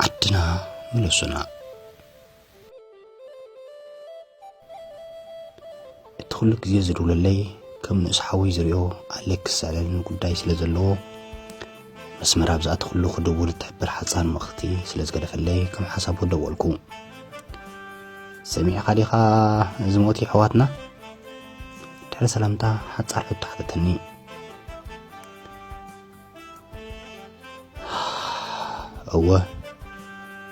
ዓድና ምለሱና እቲ ኩሉ ግዜ ዝድውለለይ ከም ንእስ ሓወይ ዝሪኦ ኣለክስ ዝዕለኒ ጉዳይ ስለ ዘለዎ መስመር ኣብ ዝኣተኽሉ ክድውል እትሕብር ሓፃን ምኽቲ ስለ ዝገደፈለይ ከም ሓሳቡ ደወልኩ ሰሚዕኻ ዲኻ እዚ ሞት ይሕዋትና ድሕሪ ሰላምታ ሓፃር ሕቶ ሓተተኒ እወ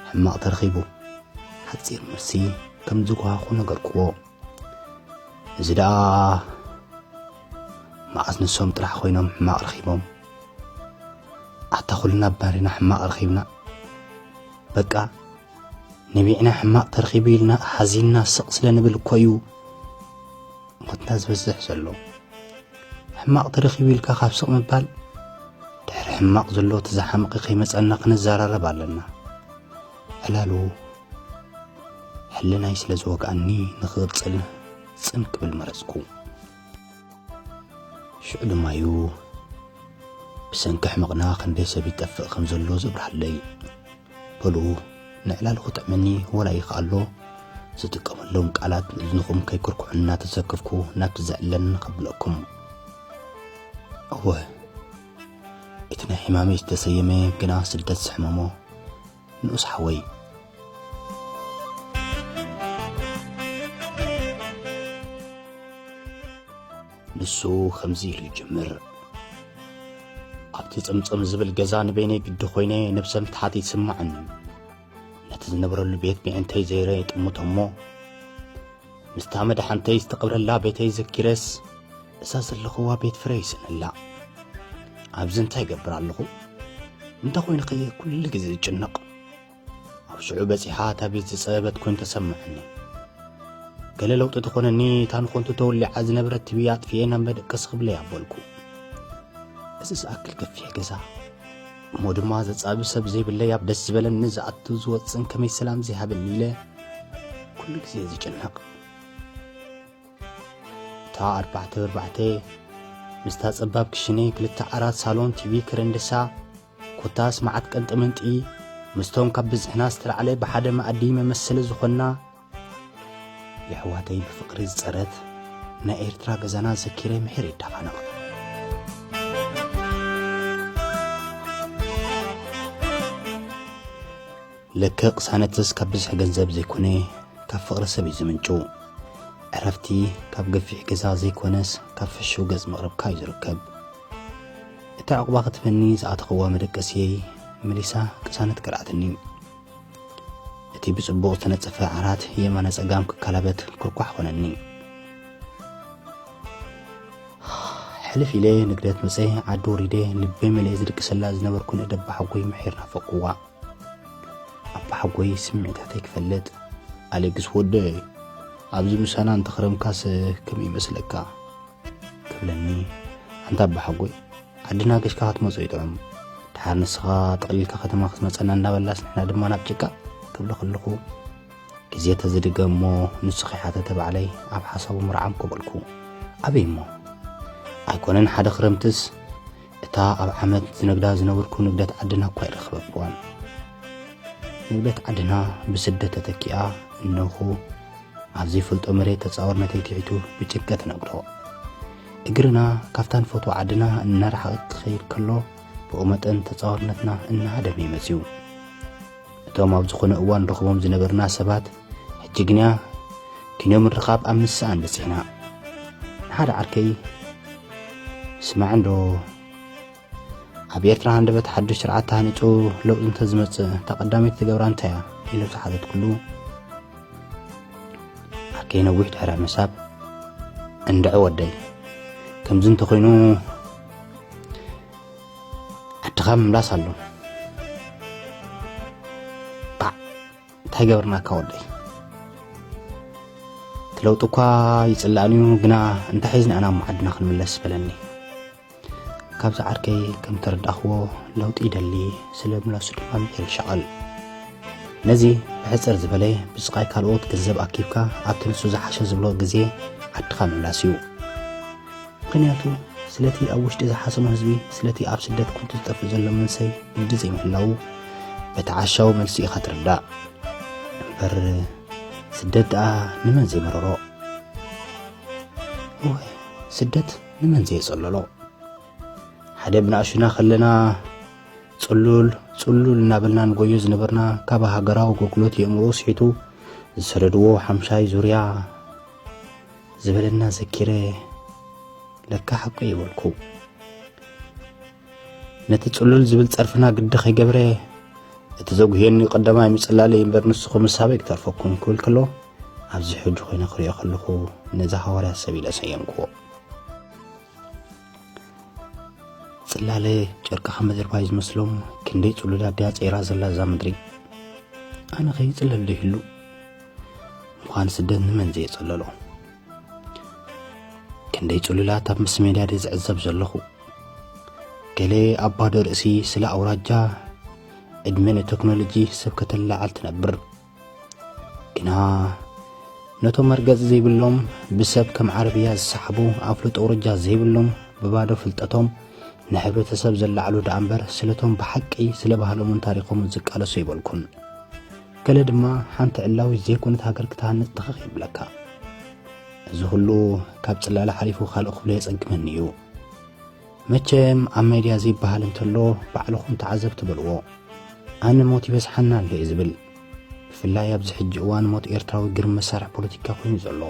ሕማቕ ተረኺቡ ሓፂር መልሲ ከም ዝጓኹ ነገርክዎ እዚ ደኣ መዓስ ንሶም ጥራሕ ኮይኖም ሕማቕ ረኺቦም ኣታ ኩልና ባሪና ሕማቕ ረኺብና በቃ ነቢዕና ሕማቕ ተረኺቡ ኢልና ሓዚንና ስቕ ስለ ንብል እኮ እዩ ሞትና ዝበዝሕ ዘሎ ሕማቕ ተረኺቡ ኢልካ ካብ ስቕ ምባል ድሕሪ ሕማቕ ዘሎ እቲ ዝሓምቂ ከይመፀና ክንዘራረብ ኣለና ዕላሉ ሕልናይ ስለ ዝወግኣኒ ንክቕፅል ፅን ክብል መረፅኩ ሽዑ ድማ እዩ ብሰንኪ ሕመቕና ክንደይ ሰብ ይጠፍእ ከም ዘሎ ዘብርሃለይ በሉ ንዕላል ክጥዕመኒ ወላ ይክኣሎ ዝጥቀመሎም ቃላት ንእዝንኹም ከይኩርኩዑ እናተሰከፍኩ ናብቲ ዘዕለኒ ከብለኩም እወ እቲ ናይ ሕማመይ ዝተሰየመ ግና ስደት ዝሕመሞ ንኡስ ሓወይ ንሱ ከምዚ ኢሉ ይጅምር ኣብቲ ጽምጽም ዝብል ገዛ ንበይነይ ግዲ ኮይነ ነብሰ ምትሓት ይስማዕኒ ነቲ ዝነብረሉ ቤት ምእንተይ ዘይረ የጥምቶ እሞ ምስታ መድሓንተይ ዝተቐብረላ ቤተይ ዘኪረስ እዛ ዘለኽዋ ቤት ፍረ ይስእነላ ኣብዚ እንታይ ይገብር ኣለኹ እንተ ዀይኑኸ ኩሉ ግዜ ዝጭነቕ ኣብ ሽዑ በጺሓ እታ ቤት ዝጸበበት ኮይኑ ተሰማዕኒ ገለ ለውጢ ተኾነኒ እታ ንኾንቱ ተወሊዓ ዝነበረት ትቢ ኣጥፍኤ ናብ መደቀስ ክብለ ያበልኩ እዚ ዝኣክል ገፊሕ ገዛ እሞ ድማ ዘጻቢ ሰብ ዘይብለይ ኣብ ደስ ዝበለኒ ዝኣቱ ዝወፅን ከመይ ሰላም ዘይሃበኒ ኢለ ኩሉ ግዜ ዝጭነቕ እታ ኣርባዕተ ብርባዕተ ምስታ ጸባብ ክሽነ ክልተ ዓራት ሳሎን ቲቪ ከረንደሳ ኮታስ መዓት ቀንጥመንጢ ምስቶም ካብ ብዝሕና ዝተላዕለ ብሓደ መኣዲ መመሰሊ ዝኾንና የሕዋተይ ብፍቕሪ ዝጸረት ናይ ኤርትራ ገዛና ዘኪረ ምሒር ይዳፋነቕ። ልክእ ቅሳነትስ ካብ ብዝሒ ገንዘብ ዘይኮነ ካብ ፍቕሪ ሰብ እዩ ዝምንጩ። ዕረፍቲ ካብ ገፊሕ ገዛ ዘይኮነስ ካብ ፍሹው ገጽ ምቕርብካ እዩ ዝርከብ። እቲ ዕቑባ ክትፈኒ ዝኣተኽዋ መደቀሲየይ መሊሳ ቅሳነት ቀልዓትኒ። እቲ ብጽቡቕ ዝተነጸፈ ዓራት የማነ ጸጋም ክከላበት ኩርኳሕ ኮነኒ። ሕልፍ ኢለ ንግደት መጸ ዓዲ ወሪደ ልበይ መሊኤ ዝድቅሰላ ዝነበርኩ ንእደ ኣባሓጎይ ምሒር ናፈቕኩዋ። ኣባሓጎይ ስምዒታተይ ክፈልጥ ኣሌክስ ወደይ ኣብዚ ምሳና እንተኽረምካስ ከመይ ይመስለካ? ክብለኒ ኣንታ ኣባሓጎይ ዓድና ገሽካ ክትመጾ እዩ ጥዑም ድሓር ንስኻ ጠቕሊልካ ከተማ ክትመጸና እንዳበላስ ንሕና ድማ ናብ ጭቃ ክብሎ ከለኹ ግዜ ተዝድገ እሞ ንሱ ከይሓተተ ባዕለይ ኣብ ሓሳቡ ምርዓም ኮበልኩ ኣበይ እሞ ኣይኮነን ሓደ ክረምትስ እታ ኣብ ዓመት ዝነግዳ ዝነበርኩ ንግደት ዓድና እኳ ኣይረኽበክዋን። ንግደት ዓድና ብስደት ተተኪኣ እነኹ ኣብ ዘይፈልጦ መሬት ተጻወርነተይ ትሒቱ ብጭንቀት ነግዶ እግርና ካብታ ንፈትዋ ዓድና እናረሓቐት ትኸይድ ከሎ ብኡ መጠን ተጻወርነትና እናሃደመ ይመጽዩ እቶም ኣብ ዝኾነ እዋን ንረኽቦም ዝነበርና ሰባት ሕጂ ግና ኪኖ ምርኻብ ኣብ ምስኣን በጺሕና ንሓደ ዓርከይ ስማዕ እንዶ ኣብ ኤርትራ ሃንደበት ሓዱሽ ስርዓት ተሃኒጹ ለውጢ እንተዝመጽእ እታ ቀዳመይቲ ትገብራ እንታይ እያ ኢሉ ዝሓተትኩሉ ዓርከይ ነዊሕ ድሕረ ምሳብ እንድዐ ወደይ ከምዚ እንተኾይኑ ዓድኻ ምምላስ ኣሎ ባዕ እንታይ ገበርናካ ወደይ እቲ ለውጢ እኳ ይፅላእን እዩ ግና እንታይ ሒዝና ኢና እሞ ዓድና ክንምለስ በለኒ ካብዚ ዓርከይ ከም ተረዳእኽዎ ለውጢ ይደሊ ስለ ምላሱ ድማ ምሒር ይሸቐል ነዚ ብሕፅር ዝበለ ብስቓይ ካልኦት ገንዘብ ኣኪብካ ኣብቲ ንሱ ዝሓሸ ዝብሎ ግዜ ዓድኻ ምምላስ እዩ ምኽንያቱ ስለቲ ኣብ ውሽጢ ዝሓሰሞ ህዝቢ ስለቲ ኣብ ስደት ኮንቱ ዝጠፍእ ዘሎ መንሰይ ግዲ ዘይምህላዉ በቲ ዓሻዊ መልሱ ኢኻ ትርዳእ እምበር ስደት ደኣ ንመን ዘይመረሮ እወ ስደት ንመን ዘየጸለሎ ሓደ ብናእሹና ከለና ጽሉል ጽሉል እናበልና ንጎዮ ዝነበርና ካብ ሃገራዊ ኣገልግሎት የእምሮ ስሒቱ ዝሰደድዎ ሓምሻይ ዙርያ ዝበለና ዘኪረ ለካ ሓቁ እዩ በልኩ ነቲ ጽሉል ዝብል ጸርፍና ግዲ ከይገብረ እቲ ዘጉህየኒ ቀዳማይ ምጽላለ እምበር ንስኹ ምሳበይ ክተርፈኩም ክብል ከሎ ኣብዚ ሕጂ ኮይነ ክሪኦ ከለኹ ነዚ ሃዋርያ ሰብ ኢለ ሰየምክዎ ጽላለ ጨርቂ ካብ ምድሪ ባይ ዝመስሎም ክንደይ ጽሉላት ድያ ጸይራ ዘላ እዛ ምድሪ ኣነ ከይጽለል ዶ ይህሉ ምዃን ስደት ንመን ዘየጸለሎ ክንደይ ጽሉላት ኣብ ምስ ሜድያ ድየ ዝዕዘብ ዘለኹ ገለ ኣብ ባዶ ርእሲ ስለ ኣውራጃ ዕድመ ንቴክኖሎጂ ሰብ ከተለዓል ትነብር ግና ነቶም መርገጽ ዘይብሎም ብሰብ ከም ዓረብያ ዝሰሓቡ ኣፍልጦ ውርጃ ዘይብሎም ብባዶ ፍልጠቶም ንሕብረተሰብ ዘላዕሉ ደኣ እምበር ስለቶም ብሓቂ ስለ ባህሎምን ታሪኾምን ዝቃለሱ ይበልኩን ገለ ድማ ሓንቲ ዕላዊ ዘይኮነት ሃገር ክትሃንጽ ትኽኽ ይብለካ እዚ ኹሉ ካብ ጽላለ ሓሊፉ ካልእ ክብሎ የጸግመኒ እዩ መቸም ኣብ ሜድያ ዘይበሃል እንተሎ ባዕልኹም ተዓዘብቲ በልዎ። ኣነ ሞት ይበዝሓና ኣሎ እየ ዝብል። ብፍላይ ኣብዚ ሕጂ እዋን ሞት ኤርትራዊ ግርም መሳርሒ ፖለቲካ ኮይኑ ዘሎ።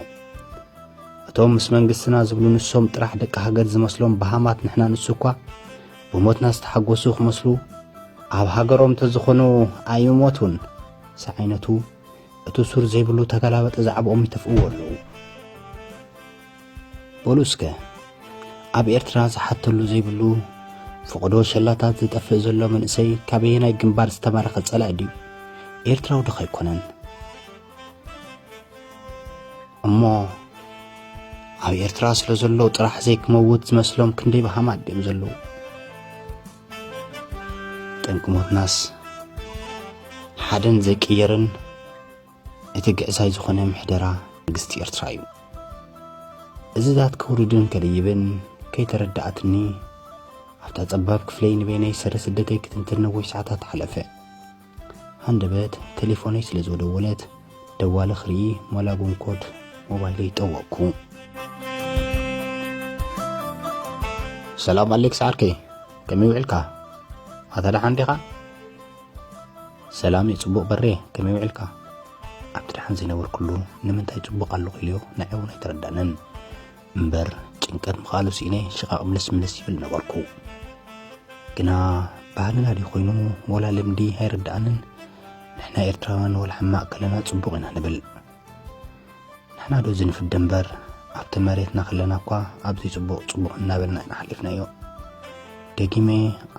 እቶም ምስ መንግስትና ዝብሉ ንሶም ጥራሕ ደቂ ሃገር ዝመስሎም በሃማት ንሕና ንሱ እኳ ብሞትና ዝተሓጎሱ ክመስሉ ኣብ ሃገሮም ተዝኾኑ ኣይምሞቱን ዝዓይነቱ እቲ ሱር ዘይብሉ ተገላበጠ ዛዕብኦም ይተፍእዎ ኣለዉ። በሉ እስከ ኣብ ኤርትራ ዝሓተሉ ዘይብሉ ፍቕዶ ሸላታት ዝጠፍእ ዘሎ መንእሰይ ካበየናይ ግንባር ዝተማረኸ ጸላኢ ድዩ ኤርትራዊ ድኻ ኣይኮነን እሞ ኣብ ኤርትራ ስለ ዘሎ ጥራሕ ዘይክመውት ዝመስሎም ክንደይ ብሃማት ድዮም ዘለዉ ጠንቂ ሞትናስ ሓደን ዘይቅየርን እቲ ግዕዛይ ዝኾነ ምሕደራ መንግስቲ ኤርትራ እዩ። እዝታት ከውርድን ከድይብን ከይተረድኣትኒ ኣብታ ጸባብ ክፍለይ ንበይነይ ሰረ ስደተይ ክትንትን ነዊሕ ሰዓታት ሓለፈ። ሃንደበት ቴሌፎነይ ስለ ዝወደወለት ደዋለ ክርኢ ሞላጉን ኮድ ሞባይለይ ጠወቅኩ። ሰላም ኣሌክስ ዓርከይ ከመይ ውዕልካ ኣታ ደሓን ዲኻ? ሰላም የጽቡቅ በሬ ከመይ ውዒልካ ኣብቲ ደሓን ዘይነበርኩሉ ንምንታይ ጽቡቅ ኣለኹ ኢልዮ ንዐይ እውን ኣይተረዳንን እምበር ጭንቀት ምኽኣሉ ስኢነ ሽቓቕ ምልስ ምልስ ይብል ነበርኩ ግና ባህልና ድዩ ኮይኑ ወላ ልምዲ ኣይርድኣንን ንሕና ኤርትራውያን ወላ ሕማቅ ከለና ጽቡቅ ኢና ንብል ንሕና ዶ እዚ ንፍደ እምበር ኣብቲ መሬትና ከለና እኳ ኣብዚ ጽቡቕ ጽቡቕ እናበልና ኢና ሓሊፍናዮ። ደጊመ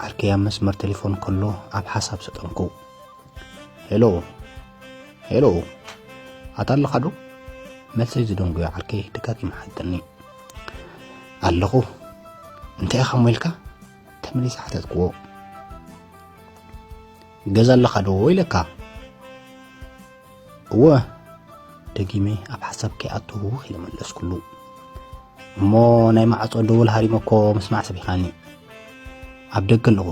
ዓርከይ ኣብ መስመር ቴሌፎን ከሎ ኣብ ሓሳብ ሰጠምኩ። ሄሎ ሄሎ፣ ኣታ ኣለኻ ዶ? መልሰይ ዝደንጉዮ ዓርከይ ደጋጊሙ ሓተኒ። ኣለኹ እንታይ ኢኻ እሞ ኢልካ ተመሊሰ ሓተትክዎ። ገዛ ኣለኻ ዶ ኢለካ እወ ደጊመ ኣብ ሓሳብ ከይኣትዉ ኢለ መለስኩሉ እሞ ናይ ማዕፆ ደወል ሃሪመኮ ምስማዕ ሰቢኻኒ ኣብ ደገ ኣለኹ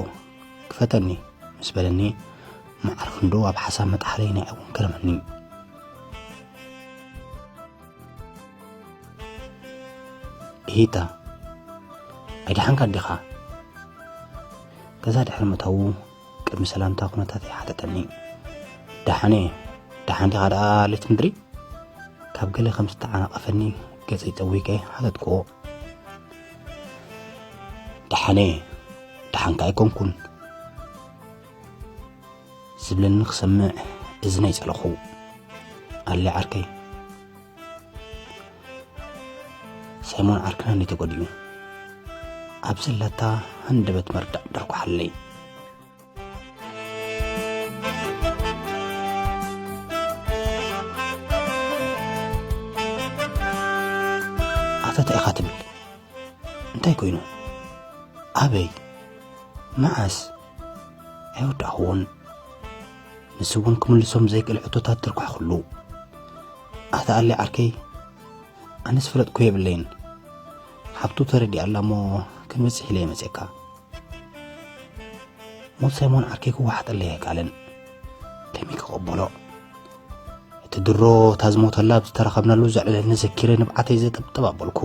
ክፈተኒ ምስ በለኒ መዓር ክንዶ ኣብ ሓሳብ መጥሓለይ ናይ እውን ገረመኒ እሂታ ኣይደሓንካ ዲኻ ገዛ ድሕሪ ምእታዉ ቅድሚ ሰላምታ ኩነታተይ ሓተተኒ ደሓን እየ ደሓን ዲኻ ደኣ ሌት ምድሪ ካብ ገለ ከም ዝተዓናቐፈኒ ገጸይ ጠዊቀ ሓተትክዎ ደሓን እየ ደሓንካ ኣይኮንኩን ዝብለኒ ክሰምዕ እዝነይ ጸለኹ ኣለ ዓርከይ ሰይሞን ዓርክና እንዲ ተጎዲኡ ኣብ ዘለታ ሃንደበት መርዳእ ደርኩሓለይ ኣፈታ ኢኻ ትብል እንታይ ኮይኑ ኣበይ መዓስ ኣይወዳእኹዎን ንሱ እውን ክምልሶም ዘይክእል ሕቶታት ተርኳሕኩሉ ኣታ ኣለ ዓርከይ ኣነስ ፍለጥኩ የብለይን ሓብቱ ተረዲኣላ እሞ ክንበፅሕ ኢለ የመፅካ ሞት ሳይሞን ዓርከይ ክወሓጠለ ኣይከኣለን ከመይ ክቐበሎ እቲ ድሮ እታ ዝሞተላ ኣብ ዝተረኸብናሉ ዘዕለለኒ ዘኪረ ንብዓተይ ዘጠብጠብ ኣበልኩ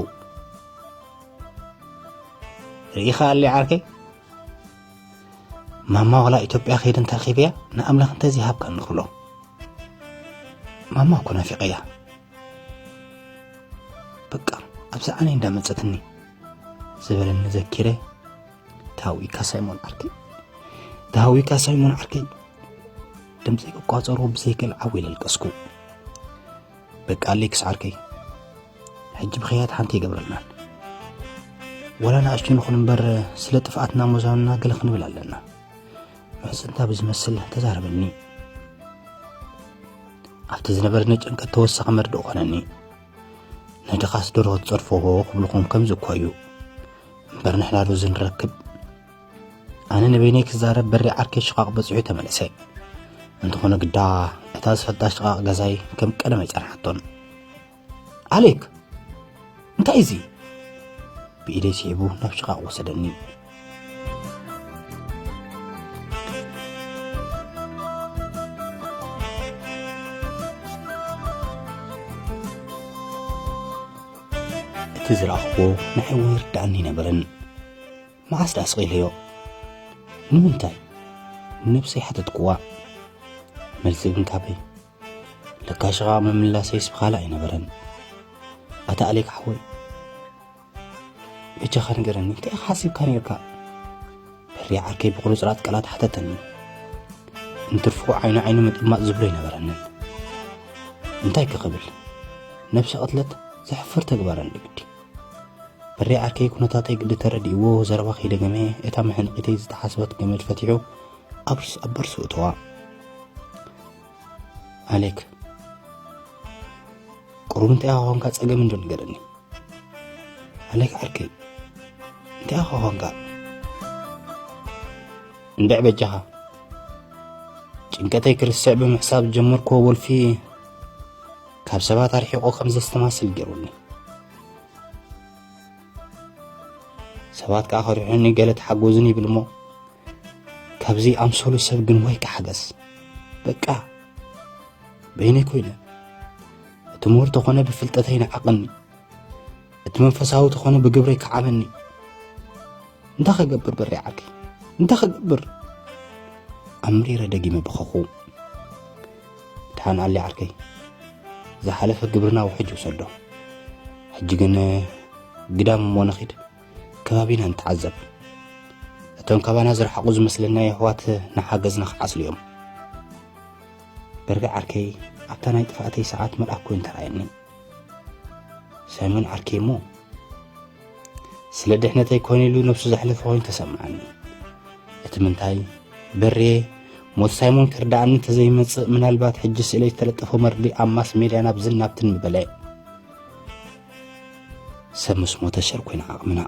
ርኢኻ ኣለ ዓርከይ ማማ ዋላ ኢትዮጵያ ከይደ እንተረኺበያ ንኣምላኽ እንተዘይሃብካ ንኽብሎ ማማ እኮ ናፊቐያ በቃ ኣብዚ ዓነ እንዳመፀትኒ ዝበለኒ ዘኪረ ተሃዊካ ሳይሞን ዓርከይ ተሃዊካ ሳይሞን ዓርከይ ድምፂ ክቋፀሮ ብዘይክእል ዓው ኢለ ኣልቀስኩ በቃ ኣሌክስ ዓርከይ ሕጂ ብክያት ሓንቲ ይገብረልናን ወላ ንኣሽቱ ንኹን እምበር ስለ ጥፍኣትና ሞዛንና ገለ ክንብል ኣለና ምሕፅንታ ብዝመስል ተዛረበኒ ኣብቲ ዝነበረኒ ጭንቀት ተወሳኺ መርድእ ኮነኒ ንድኻስ ዶሮ ክትፀርፈዎ ክብልኹም ከምዚ እኳ እዩ እምበር ንሕና ዶ ዝንረክብ ኣነ ንበይነይ ክዛረብ በሪ ዓርከ ሽቓቕ በፂሑ ተመለሰ እንተኾነ ግዳ እታ ዝፈልጣ ሽቓቕ ገዛይ ከም ቀደም ኣይፀንሓቶን ኣሌክ እንታይ እዚ ብኢደይ ስዒቡ ናብ ሽቓቕ ወሰደኒ እቲ ዝረኣኽዎ ንዓይ እውን ይርድኣኒ ነበረን መዓስ ደኣ ስቒለዮ ንምንታይ ንነብሰይ ሓተትክዋ መልሲ ግን ካበይ ለካሽ ኸዓ ምምላሰይስ ብኻልእ ኣይነበረን ኣታ ኣሌክ ሓወይ በጃኻ ንገረኒ እንታይ ኢኻ ሓሲብካ ነርካ በሪ ዓርከይ ብቑርፅራፅ ቃላት ሓተተኒ እንትርፉ ዓይኒ ዓይኑ ምጥማጥ ዝብሎ ኣይነበረንን እንታይ ክኽብል ነብሲ ቅትለት ዘሕፍር ተግባር ንግዲ በሪ ዓርከይ ኩነታተይ ግዲ ተረዲእዎ ዘረባ ከይደገመ እታ መሕንቂተይ ዝተሓስበት ገመድ ፈቲሑ ኣብ ቦርሱ እተዋ ኣሌክ ቁሩብ እንታይ ኾንካ ጸገም እንዶ ንገረኒ ኣሌክ ዓርከይ እንታይ ኾንካ እንድዕ በጃኻ ጭንቀተይ ክርስዕ ብምሕሳብ ጀመርክዎ ወልፊ ካብ ሰባት ኣርሒቆ ከም ዘስተማስል ገይሩኒ ሰባት ከዓ ከሪሑኒ ገለ ተሓጎዝኒ ይብል እሞ ካብዚ ኣምሰሉ ሰብ ግን ወይ ክሓገዝ በቃ በይነይ ኮይነ እቲ ምሁር ተኾነ ብፍልጠተይ ንዓቐኒ እቲ መንፈሳዊ ተኾነ ብግብረይ ክዓበኒ እንታይ ከገብር በሪ ዓርከይ እንታይ ከገብር ኣብ ምሪረ ደጊመ በኸኹ ድሓን ኣሊ ዓርከይ ዝሓለፈ ግብርና ውሕጅ ውሰዶ ሕጂ ግን ግዳም እሞ ንኺድ ከባቢና ንተዓዘብ እቶም ካባና ዝረሓቑ ዝመስለና የሕዋት ንሓገዝና ክዓስሉ እዮም በርገ ዓርከይ ኣብታ ናይ ጥፍኣተይ ሰዓት መልኣክ ኮይኑ ተራእየኒ ሳይሞን ዓርከይ እሞ ስለ ድሕነተይ ኮነ ኢሉ ነብሱ ዘሕለፈ ኮይኑ ተሰምዓኒ እቲ ምንታይ በርየ ሞት ሳይሞን ክርዳእኒ ተዘይመጽእ ምናልባት ሕጂ ስእለይ ዝተለጠፎ መርዲ ኣብ ማስ ሜድያ ናብ ዝናብትን ምበለ ሰብ ምስ ሞተ ሸር ኮይና ዓቕምና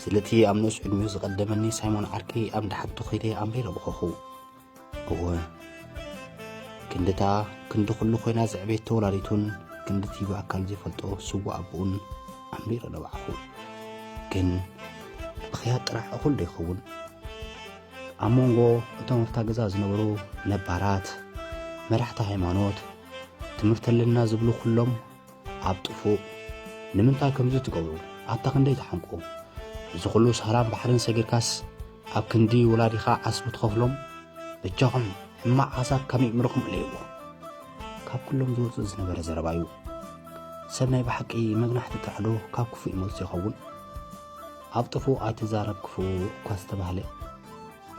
ስለቲ ኣብ ንኡስ ዕድሚኡ ዝቐደመኒ ሳይሞን ዓርኪ ኣብ ደሓቱ ኸይደ ኣንቢረ በኸኹ እወ ክንድታ ክንዲ ኩሉ ኮይና ዘዕቤት ተወላዲቱን ክንድቲ ብኣካል ዘይፈልጦ ስዋ ኣቦኡን ኣንቢረ ነባዕኹ ግን ብኽያት ጥራሕ እኹል ዶ ይኸውን ኣብ መንጎ እቶም ኣብታ ገዛ ዝነበሩ ነባራት መራሕቲ ሃይማኖት ትምህርቲ ኣለና ዝብሉ ኩሎም ኣብ ጥፉእ ንምንታይ ከምዚ ትገብሩ ኣታ ክንደይ ትሓንቁ እዚ ኩሉ ሳህራን ባሕርን ሰጊርካስ ኣብ ክንዲ ወላዲኻ ዓስቢ ትኸፍሎም ብጃኹም ሕማቕ ሓሳብ ካብ ይእምርኹም እለይዎ ካብ ኩሎም ዝወፅእ ዝነበረ ዘረባ እዩ ሰብ ናይ ብሓቂ መግናሕቲ ጥራሕዶ ካብ ክፉእ ይመልሱ ይኸውን ኣብ ጥፉእ ኣይትዛረብ ክፉእ እኳ ዝተባህለ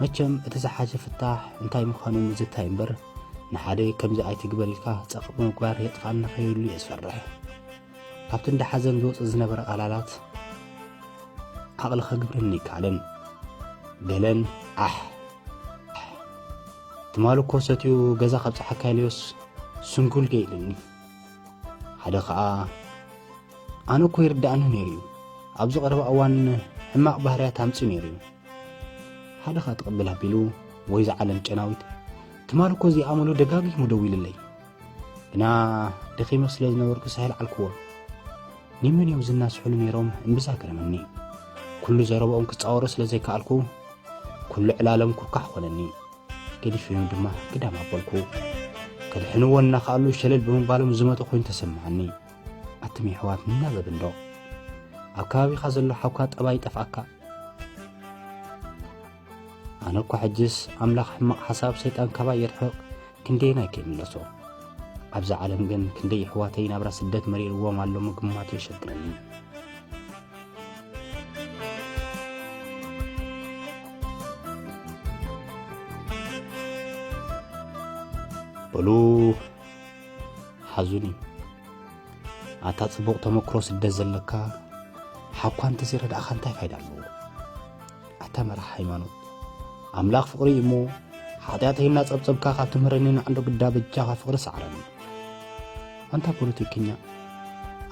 መቸም እቲ ዝሓሸ ፍታሕ እንታይ ምዃኑ ምዝታይ እምበር ንሓደ ከምዚ ኣይትግበር ኢልካ ጸቕጥ ብምግባር የጥፍኣና ከይብሉ እየ ዝፈርሕ። ካብቲ እንዳ ሓዘን ዝወጽእ ዝነበረ ቃላላት ዓቕሊ ከግብረኒ ኣይከኣለን። ገለን ዓሕ ትማል እኮ ሰትኡ ገዛ ካብ ፀሓካ ኢልዮስ ስንኩል ገ ኢልኒ ሓደ ከዓ ኣነ እኮ ይርዳእኒ ነይሩ እዩ ኣብዚ ቀረባ እዋን ሕማቕ ባህርያት ኣምፂ ነይሩ እዩ ሓደ ኻእ ትቕብል ኣቢሉ ወይ ዝዓለም ጨናዊት ትማል እኮ እዚኣ ኣመሉ ደጋጊሙ ደዊልለይ ግና ደኺመ ስለ ዝነበርኩ ሳሄል ዓልክዎ ኒምን እዮም ዝናስሑሉ ነይሮም እምብዛ ገረመኒ ኩሉ ዘረባኦም ክጻወሮ ስለ ዘይከኣልኩ ኩሉ ዕላሎም ኩርካሕ ኾነኒ ገዲፊኑ ድማ ግዳም ኣበልኩ ከድሕንዎ እናኸኣሉ ሸለል ብምባሎም ዝመጠ ኮይኑ ተሰማዓኒ ኣትም የሕዋት ንናበብ እንዶ ኣብ ከባቢኻ ዘሎ ሓውካ ጠባይ ጠፍኣካ ኣነ እኳ ሕጅስ ኣምላኽ ሕማቕ ሓሳብ ሰይጣን ካባይ የርሕቕ ክንደየናይ ከይምለሶ ኣብዚ ዓለም ግን ክንደይ ኣሕዋተይ ናብራ ስደት መሪርዎም ኣሎ ምግማት የሸግረኒ በሉ ሓዙኒ ኣታ ጽቡቕ ተመክሮ ስደት ዘለካ ሓኳ እንተዘይረዳእኻ እንታይ ፋይዳ ኣለዎ ኣታ መራሕ ሃይማኖት ኣምላኽ ፍቕሪ እዩ እሞ ሓጢኣተይ እናጸብጸብካ ካብ ትምህረኒ ንዓንዶ ግዳ በጃኻ ፍቕሪ ሰዕረኒ ኣንታ ፖለቲከኛ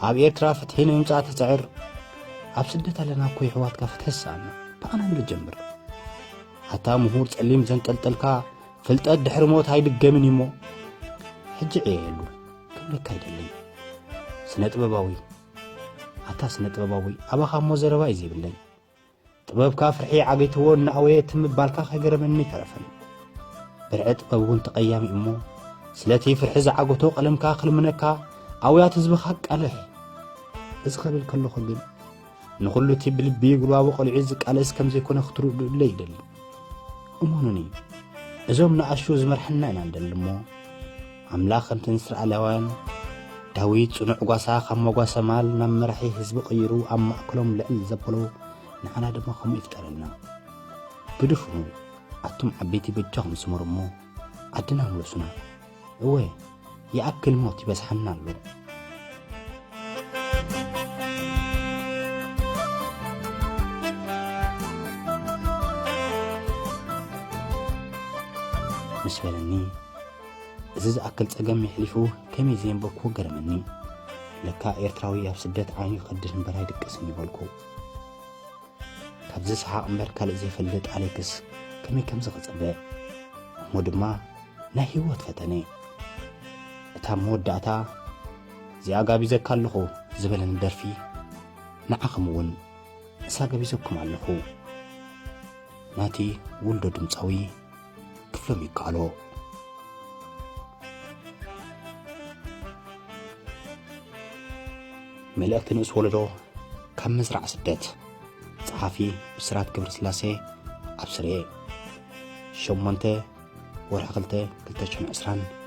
ኣብ ኤርትራ ፍትሒ ንምምጻእ ትጽዕር ኣብ ስደት ኣለና እኮ የሕዋትካ ፍትሒ ሰኣና ብኣና ንጀምር ኣታ ምሁር ጸሊም ዘንጠልጠልካ ፍልጠት ድሕሪ ሞት ኣይድገምን እዩሞ ሕጂ ዕየየሉ ክብለካ ኣይደልን ስነ ጥበባዊ ኣታ ስነ ጥበባዊ ኣባኻ እሞ ዘረባ እዩ ዘይብለይ ጥበብካ ፍርሒ ዓገይትዎ እናኣወየ እቲ ምባልካ ከይገረመኒ ተረፈን ብርዒ ጥበብ እውን ተቐያሚ እሞ ስለቲ ፍርሒ ዝዓገቶ ቀለምካ ክልምነካ ኣውያት ህዝብኻ ቃልሕ እዚ ከብል ከለኹ ግን ንኹሉ እቲ ብልቢ ይግባቦ ቆልዒ ዝቃለስ ከም ዘይኮነ ክትርድኡለ ይደሊ እሙኑኒ እዞም ንኣሹ ዝመርሐና ኢና ንደሊ እሞ ኣምላኽ ከምቲ ንእስራኤላውያን ዳዊት ጽኑዕ ጓሳ ካብ መጓሰ ማል ናብ መራሒ ህዝቢ ቀይሩ ኣብ ማእከሎም ልዕል ዘበሎ ንዓና ድማ ከምኡ ይፍጠረልና ግድፉ ኣቱም ዓበይቲ በጃኹም ስመሩ እሞ ዓድና ምለሱና እወ ይኣክል ሞት ይበዝሓና ኣሎ። ምስ በለኒ እዚ ዝኣክል ጸገም የሕሊፉ ከመይ ዘየንበብኩ ገረመኒ። ለካ ኤርትራዊ ኣብ ስደት ዓይኑ ይኸድድ እምበር ኣይድቅስን ይበልኩ። ካብዚ ሰሓቕ እምበር ካልእ ዘይፈልጥ ኣሌክስ ከመይ ከምዚ ክጽበ እሞ ድማ ናይ ህይወት ፈተነ እታ መወዳእታ እዚኣ ጋቢዘካ ኣለኹ ዝበለኒ ደርፊ ንዓኹም እውን እሳ ገቢዘኩም ኣለኹ ናቲ ውልዶ ድምፃዊ ክፍሎም ይከኣሎ። መልእኽቲ ንኡስ ወለዶ ካብ መዝራዕ ስደት ጸሓፊ ብስራት ክብር ስላሴ ኣብ ስሬ ሸሞንተ ወርሒ ክልተ ክልተ ሽሕን ዕስራን